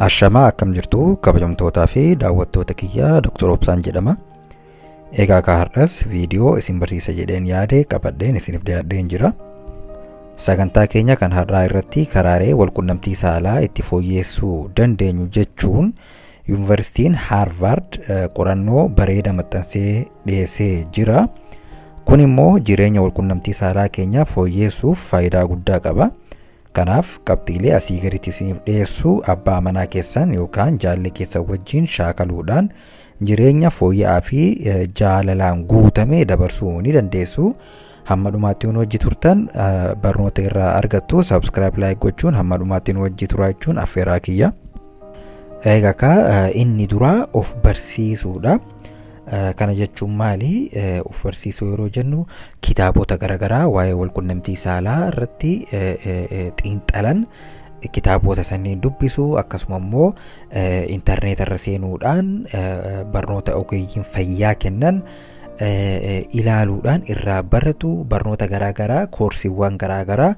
Ashamaa akkam jirtu kabajamtootaa fi daawwattoota kiyya Dr. Obsaan jedhama. Egaa kaa har'as viidiyoo isin barsiisa jedheen yaade qabadheen isiniif dhiyaadheen jira. Sagantaa keenya kan har'aa irratti karaalee walqunnamtii saalaa itti fooyyeessuu dandeenyu jechuun Yuunivarsiitiin Haarvaard qorannoo bareeda maxxansee dhiyeessee jira. Kun immoo jireenya walqunnamtii saalaa keenyaa fooyyeessuuf faayidaa guddaa qaba. Kanaaf qabxiilee asii gaditti isiniif dhiyeessu abbaa manaa keessan yookaan jaallee keessan wajjin shaakaluudhaan jireenya fooyya'aa fi jaalalaan guutame dabarsuu ni dandeessu. hamma dhumaatti nu wajji turtan barnoota irraa argattu subscribe like gochuun hamma dhumaatti nu wajji turaa jechuun affeeraa kiyya. Egaa ka inni duraa of barsiisuudha. Kana jechuun maali? Of barsiisuu yeroo jennu kitaabota garaagaraa waa'ee walqunnamtii saalaa irratti xiinxalan kitaabota sanniin dubbisu akkasuma immoo intarneeta irra seenuudhaan barnoota ogeeyyiin fayyaa kennan ilaaluudhaan irraa baratu barnoota garaagaraa koorsiiwwan garaagaraa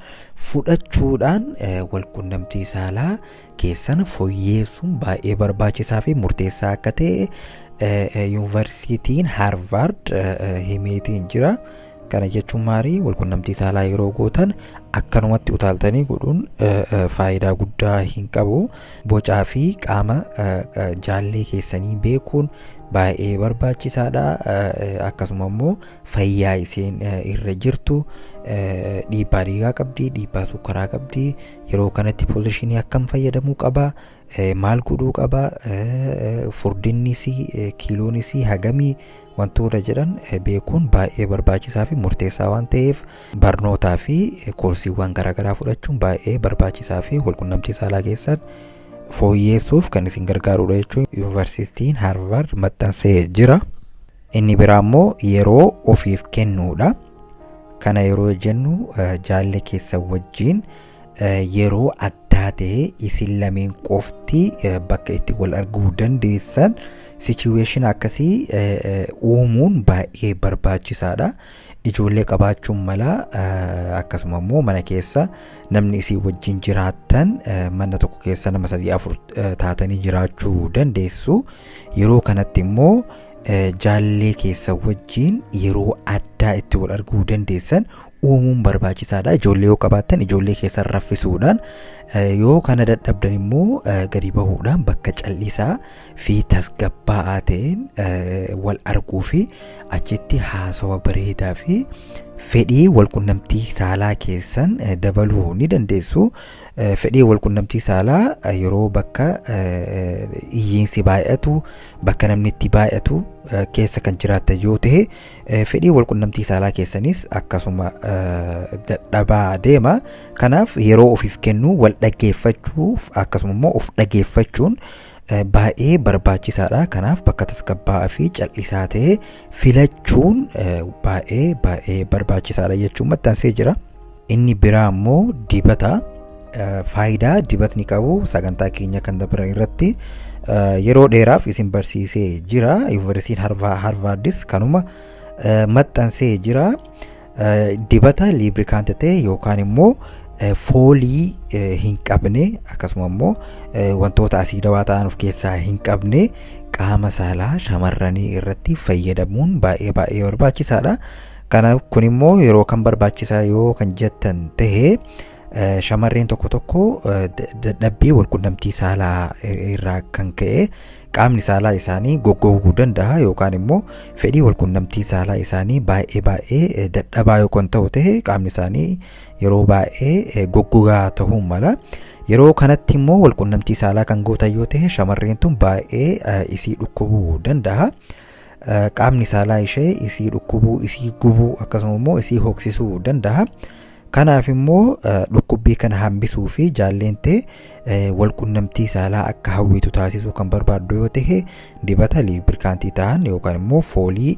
fudhachuudhaan walqunnamtii saalaa keessan foyyeessuun baay'ee barbaachisaa fi murteessaa akka ta'e yuunivarsiitiin haarvaard himeetiin jira. Kana jechuun maarii walqunnamtii saalaa yeroo gootan akkanumatti utaaltanii godhuun faayidaa guddaa hin qabu. Bocaa fi qaama jaallee keessanii beekuun baay'ee barbaachisaadha. Akkasuma immoo fayyaa isheen irra jirtu dhiibbaa dhiigaa qabdi, dhiibbaa sukkaraa qabdi. Yeroo kanatti poozishinii akkam fayyadamuu qaba? Maal godhuu qaba? Furdinnis kiiloonis hagamii Wantoota jedhan beekuun baay'ee barbaachisaa fi murteessaa waan ta'eef barnootaa fi koorsiiwwan garaagaraa fudhachuun baay'ee barbaachisaa fi walqunnamtii saalaa keessan fooyyeessuuf kan isin gargaarudha jechuun yuunivarsiitiin Haarvaard maxxansee jira. Inni biraa immoo yeroo ofiif kennuudha. Kana yeroo jennu jaallee keessan wajjin yeroo addaa ta'e isin lameen qofti bakka itti wal arguu dandeessan sichuweeshin akkasii uumuun baay'ee barbaachisaadha. Ijoollee qabaachuun mala akkasuma immoo mana keessa namni isin wajjin jiraattan mana tokko keessa nama sadii afur taatanii jiraachuu dandeessu. Yeroo kanatti immoo jaallee keessa wajjin yeroo addaa itti wal arguu dandeessan uumuun barbaachisaadha. Ijoollee yoo qabaattan ijoollee keessan raffisuudhaan yoo kana dadhabdan immoo gadi bahuudhaan bakka callisaa fi tasgabbaa'aa ta'een wal arguu fi achitti haasawa bareedaa fi fedhii walqunnamtii saalaa keessan dabaluu ni dandeessu. Fedhii walqunnamtii saalaa yeroo bakka iyyiinsi baay'atu bakka namni itti baay'atu keessa kan jiraattan yoo ta'e Fedhii walqunnamtii saalaa keessaniis akkasuma dadhabaa deema. Kanaaf yeroo ofiif kennuu wal dhaggeeffachuuf akkasuma immoo of dhaggeeffachuun baay'ee barbaachisaadha. Kanaaf bakka tasgabbaa'aa fi cal'isaa ta'e filachuun baay'ee baay'ee barbaachisaadha jechuun maxxansee jira. Inni biraa immoo dibata faayidaa dibatni qabu sagantaa keenya kan dabran irratti yeroo dheeraaf isin barsiisee jira. Yuunivarsiitiin Harvaardis kanuma maxxansee jira. Dibata liibrikaanti ta'e yookaan immoo foolii hin qabne akkasuma immoo wantoota asiidawaa ta'an of keessaa hin qabne qaama saalaa shamarranii irratti fayyadamuun baay'ee baay'ee barbaachisaadha. Kana kun immoo yeroo kan barbaachisaa yoo kan jettan ta'e shamarreen tokko tokko dadhabbii walqunnamtii saalaa irraa kan ka'e qaamni saalaa isaanii goggoguu danda'a yookaan immoo fedhii walqunnamtii saalaa isaanii baay'ee baay'ee dadhabaa yoo kan ta'u ta'e qaamni isaanii yeroo baay'ee goggogaa ta'uu mala. Yeroo kanatti immoo walqunnamtii saalaa kan gootan yoo ta'e shamarreen tun baay'ee isii dhukkubuu danda'a. qaamni saalaa ishee isii dhukkubuu isii gubuu akkasuma immoo isii hoksisuu danda'a. Kanaaf immoo dhukkubbii kana hambisuu fi jaalleen tee walqunnamtii saalaa akka hawwitu taasisuu kan barbaaddu yoo ta'e dibata liibrikaantii ta'an yookaan immoo foolii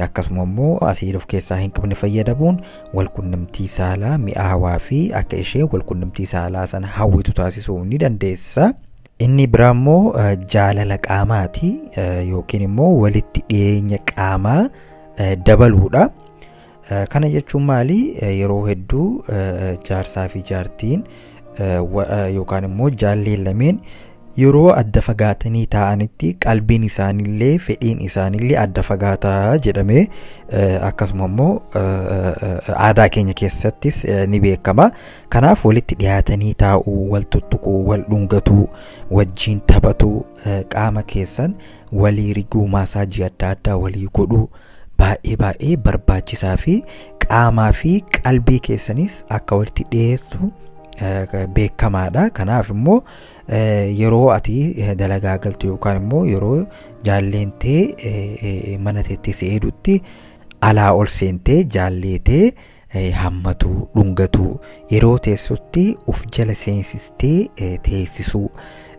akkasuma immoo asiid of keessaa hin qabne fayyadamuun walqunnamtii saalaa mi'aawaa fi akka ishee walqunnamtii saalaa sana hawwitu taasisuu ni dandeessa. Inni biraa immoo jaalala qaamaati yookiin immoo walitti dhiyeenya qaamaa dabaluudha. Kana jechuun maali? Yeroo hedduu jaarsaa fi jaartiin yookaan immoo jaalleen lameen yeroo adda fagaatanii taa'anitti qalbiin isaanillee fedhiin isaanillee adda fagaataa jedhamee akkasuma immoo aadaa keenya keessattis ni beekama. Kanaaf walitti dhiyaatanii taa'uu, wal tuttuquu, wal dhungatuu, wajjiin taphatuu, qaama keessan walii riguu, maasaajii adda addaa walii godhuu baay'ee baay'ee barbaachisaa fi qaamaa fi qalbii keessanis akka walitti dhiyeessu beekamaadha. Kanaaf immoo yeroo ati dalagaa galtu yookaan immoo yeroo jaalleen tee mana teettee si eedutti alaa ol seentee jaallee tee hammatuu, dhungatuu, yeroo teessutti uf jala seensistee eh, teessisuu,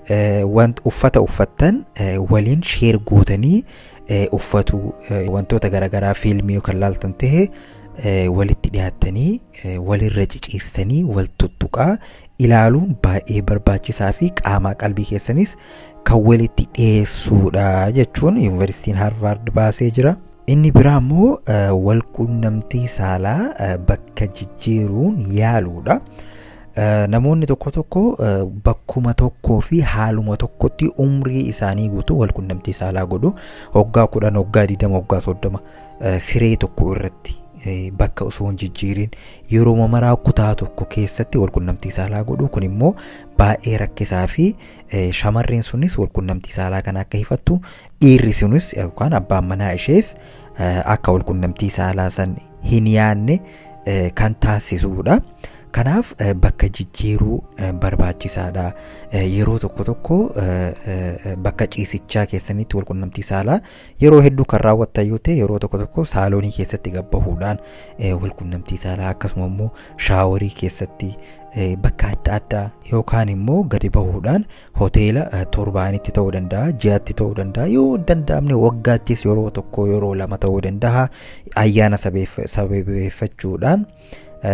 eh, want uffata uffattan eh, waliin sheer gootanii eh, uffatuu, eh, wantoota garaagaraa fiilmii yoo kan laaltan ta'e eh, walitti dhiyaattanii eh, walirra ciciistanii wal tuttuqaa ilaaluun baay'ee barbaachisaa fi qaamaa qalbii keessanis kan walitti dhiyeessuudha jechuun yuunivarsiitiin Haarvaard baasee jira. Inni biraa immoo walquunnamtii saalaa bakka jijjiiruun yaaluudha. Namoonni tokko tokko bakkuma tokkoo fi haaluma tokkotti umrii isaanii guutuu walquunnamtii saalaa godhu. Hoggaa kudhan, hoggaa digdama, hoggaa soddoma siree tokko irratti bakka osoo hin jijjiirin yeroo maraa kutaa tokko keessatti walquunnamtii saalaa godhu. Kun immoo baay'ee rakkisaa fi shamarreen sunis walquunnamtii saalaa kana akka hifattu Dhiirri sunis yookaan abbaan manaa ishees akka wal qunnamtii saalaa san hin yaanne kan taasisuudha. Kanaaf bakka jijjiiruu barbaachisaadha. Yeroo tokko tokko bakka ciisichaa keessanitti wal qunnamtii saalaa yeroo hedduu kan raawwattan yoo ta'e yeroo tokko tokko saaloonii keessatti gabbahuudhaan wal qunnamtii saalaa akkasuma immoo shaaworii keessatti bakka adda addaa yookaan immoo gadi bahuudhaan Hoteela torbaanitti ta'uu danda'a, ji'atti ta'uu danda'a, yoo danda'amne waggaattis yeroo tokko yeroo lama ta'uu danda'a. Ayyaana sababeeffachuudhaan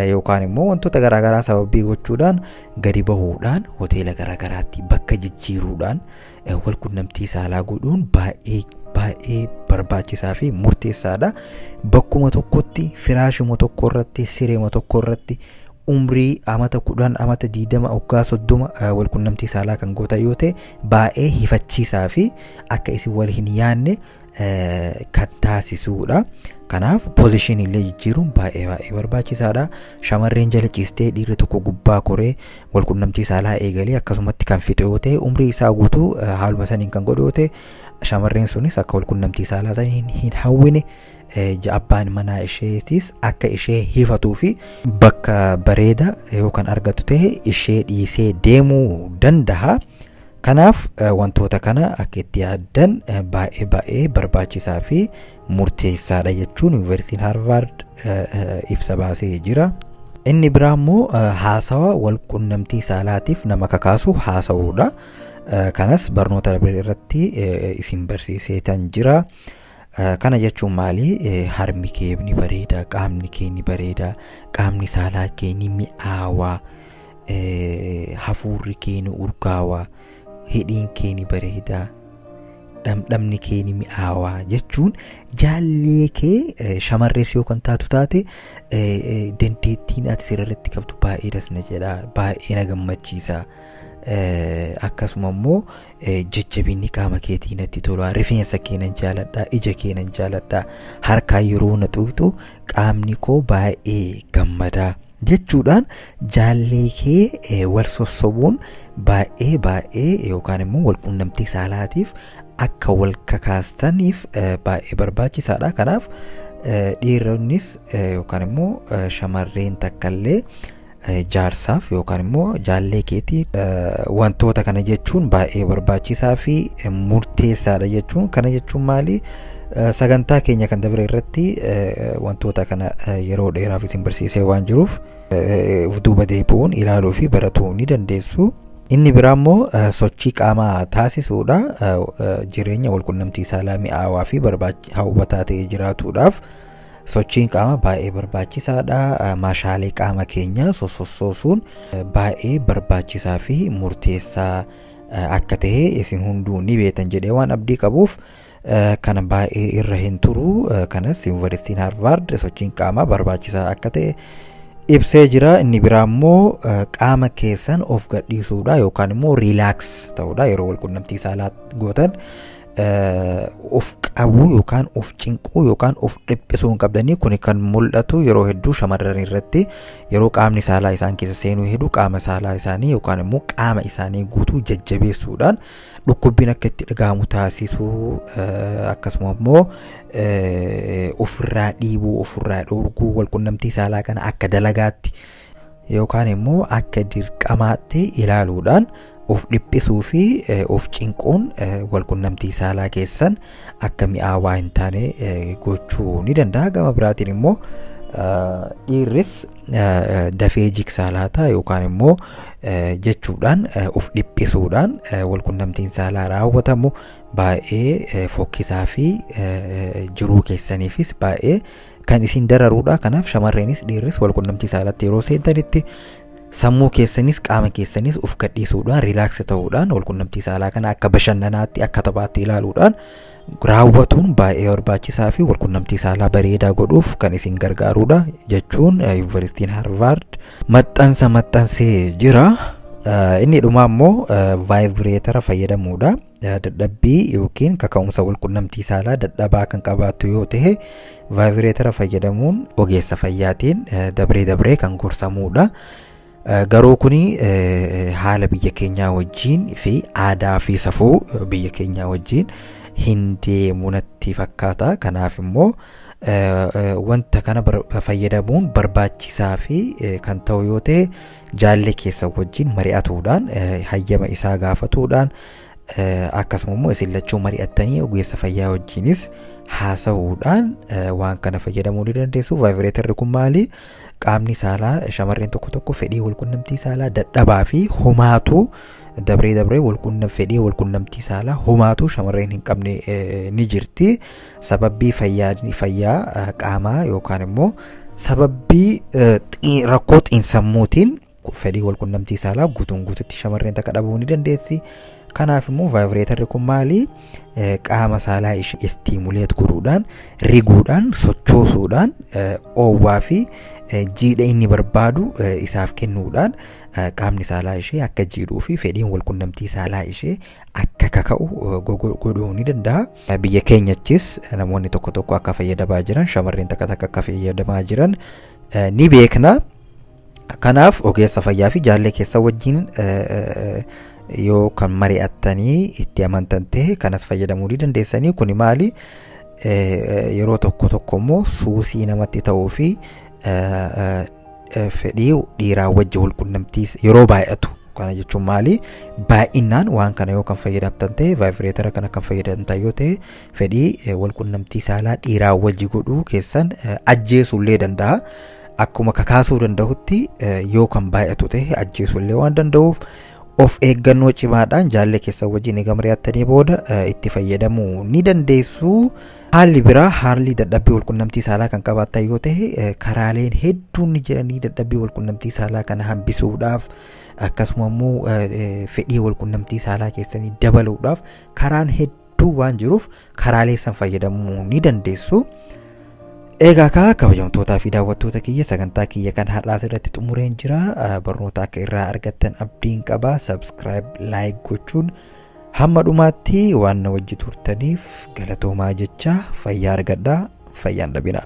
yookaan immoo wantoota garaagaraa sababii gochuudhaan gadi bahuudhaan hoteela garaagaraatti bakka jijjiiruudhaan wal qunnamtii saalaa godhuun baay'ee baay'ee barbaachisaa fi murteessaadha. Bakkuma tokkotti firaashuma tokko irratti sireema tokko irratti umrii amata kudhan amata diidama oggaa soddoma wal qunnamtii saalaa kan gootan yoo ta'e baay'ee hifachiisaa fi akka isin wal hin yaanne kan taasisuudha. Kanaaf pozishinii illee jijjiiruun baay'ee baay'ee barbaachisaadha. Shamarreen jala ciistee dhiirri tokko gubbaa koree wal qunnamtii saalaa eegalee akkasumatti kan fixu yoo ta'e umrii isaa guutuu haaluma saniin kan godhu yoo ta'e shamarreen sunis akka wal qunnamtii saalaa saniin hin hawwine. abbaan manaa isheetiis akka ishee hifatuu fi bakka bareeda yoo kan argatu ta'e ishee dhiisee deemuu danda'a. Kanaaf wantoota kana akka itti yaaddan baay'ee baay'ee barbaachisaa fi murteessaadha jechuun yuunivarsiitiin Haarvaard ibsa baasee jira. Inni biraa immoo haasawa wal qunnamtii saalaatiif nama kakaasu haasa'uudha. Kanas barnoota darbe irratti isin barsiiseetan jira. Kana jechuun maali? Harmi kee ni bareeda, qaamni kee ni bareeda, qaamni saalaa kee ni mi'aawa, hafuurri kee ni urgaawa, hidhiin kee ni bareeda, dhamdhamni kee ni mi'aawa jechuun jaallee kee shamarrees yoo kan taatu taate dandeettiin ati sirriitti qabdu baay'ee das na jedha, baay'ee na gammachiisa. Akkasuma immoo jajjabinni qaama keetii natti tola rifeensa kee nan jaaladha ija kee nan jaaladha harkaa yeroo na tuqxu qaamni koo baay'ee gammada jechuudhaan jaallee kee wal sossobuun baay'ee baay'ee yookaan immoo wal qunnamtii saalaatiif akka wal kakaastaniif baay'ee barbaachisaadha kanaaf dhiironnis yookaan immoo shamarreen takkallee jaarsaaf yookaan immoo jaallee keetiif wantoota kana jechuun baay'ee barbaachisaa fi murteessaadha jechuun kana jechuun maali sagantaa keenya kan dabre irratti wantoota kana yeroo dheeraaf isin barsiisee waan jiruuf of duuba deebi'uun ilaaluu fi baratuu ni dandeessu. Inni biraa immoo sochii qaamaa taasisuudha. Jireenya walqunnamtii saalaa mi'aawaa fi hawwataa ta'ee jiraatuudhaaf Sochiin qaamaa baay'ee barbaachisaadha. Maashaalee qaama keenyaa sossoosuun baay'ee barbaachisaa fi murteessaa akka ta'e isin hunduu ni beektan jedhee waan abdii qabuuf kana baay'ee irra hin turu. Kanas Yuunivarsiitiin Haarvaard sochiin qaamaa barbaachisaa akka ta'e ibsee jira. Inni biraa immoo qaama keessan of gadhiisuudha yookaan immoo riilaaks ta'uudha yeroo walqunnamtii saalaa gootan. of qabuu yookaan of cinquu yookaan of dhiphisuu hin qabdanii kun kan mul'atu yeroo hedduu shamarran irratti yeroo qaamni saalaa isaan keessa seenuu hedduu qaama saalaa isaanii yookaan immoo qaama isaanii guutuu jajjabeessuudhaan dhukkubbiin akka itti dhaga'amu taasisuu akkasuma immoo ofirraa dhiibuu ofirraa dhoorguu walqunnamtii saalaa kana akka dalagaatti yookaan immoo akka dirqamaatti ilaaluudhaan of dhiphisuu fi of cinquun walqunnamtii saalaa keessan akka mi'aawaa hin taane gochuu ni danda'a. Gama biraatiin immoo dhiirris dafee jiksaa laata yookaan immoo jechuudhaan of dhiphisuudhaan walqunnamtiin saalaa raawwatamu baay'ee fokkisaa fi jiruu keessaniifis baay'ee kan isin dararuudha kanaaf shamarreenis dhiirris wal qunnamtii saalatti yeroo seentanitti sammuu keessanis qaama keessanis of gadhiisuudhaan riilaaksi ta'uudhaan wal qunnamtii saalaa kana akka bashannanaatti akka taphaatti ilaaluudhaan raawwatuun baay'ee barbaachisaa fi wal qunnamtii saalaa bareedaa godhuuf kan isin gargaaruudha jechuun yuunivarsiitiin harvaard maxxansa maxxansee jira. Inni dhumaa immoo vaayibireetara fayyadamuudha. dadhabbii yookiin kaka'umsa walqunnamtii saalaa dadhabaa kan qabaattu yoo ta'e vaayibireetara fayyadamuun ogeessa fayyaatiin dabree dabree kan gorsamuudha. Garuu kun haala biyya keenyaa wajjiin fi aadaa fi safuu biyya keenyaa wajjiin hin deemu natti fakkaata. Kanaaf immoo wanta kana fayyadamuun barbaachisaa fi kan ta'u yoo ta'e jaallee keessan wajjin mari'atuudhaan hayyama isaa gaafatuudhaan akkasuma immoo isin lachuu mari'attanii ogeessa fayyaa wajjinis haasa'uudhaan waan kana fayyadamuu ni dandeessu. Vaayibireetarri kun maali? Qaamni saalaa shamarreen tokko tokko fedhii walqunnamtii saalaa dadhabaa fi homaatu dabree dabree fedhii walqunnamtii saalaa homaatu shamarreen hin qabne ni jirti. Sababbii fayyaadni fayyaa eh, qaamaa yookaan immoo sababbii eh, xii- rakkoo xiinsammuutiin ku- fedhii walqunnamtii saalaa guutuun guututti shamarreen takka dhabuu ni dandeessi. Kanaaf immoo vaayibireetarri kun maali? Eh, Qaama saalaa ishee istiimuleet godhuudhaan, riguudhaan, sochoosuudhaan, eh, oowwaa fi eh, jiidha inni barbaadu eh, isaaf kennuudhaan eh, qaamni saalaa ishee akka jiidhuu fi fedhiin walqunnamtii saalaa ishee akka kaka'u eh, gogo- godhuu ni danda'a. Biyya keenyattis namoonni tokko tokko akka fayyadamaa jiran shamarreen takka takka akka fayyadamaa jiran ni beekna. Kanaaf ogeessa fayyaa fi jaallee keessa wajjin yoo kan mari'attanii itti amantan ta'e kanas fayyadamuu ni dandeessanii kuni maali yeroo tokko tokko immoo suusii namatti ta'uu fi fedhii dhiiraa wajji walqunnamtiis yeroo baay'atu kana jechuun maali baay'inaan waan kana yoo kan fayyadamtan ta'e vaayibireetara kana kan fayyadamtan yoo ta'e fedhii walqunnamtii saalaa dhiiraa wajji godhuu keessan ajjeesullee danda'a. Akkuma kakaasuu danda'utti yoo kan baay'atu ta'e ajjeesullee waan danda'uuf of eeggannoo cimaadhaan jaallee keessan wajjin eega mari'attanii booda itti fayyadamuu ni dandeessu. Haalli biraa haalli dadhabbii walqunnamtii saalaa kan qabaatan yoo ta'e eh, karaaleen hedduun ni jiranii dadhabbii walqunnamtii saalaa kana hambisuudhaaf akkasuma immoo eh, eh, fedhii walqunnamtii saalaa keessanii dabaluudhaaf karaan hedduu waan jiruuf karaalee san fayyadamuu ni dandeessu. Egaa kaa kabajamtootaa fi daawwattoota kiyya sagantaa kiyya kan har'aas irratti xumureen jira Eh, barnoota akka irraa argattan abdiin qaba subscribe like gochuun Hamma dhumaatti waan na wajji turtaniif galatoomaa jechaa fayyaa argadhaa fayyaan dhabinaa.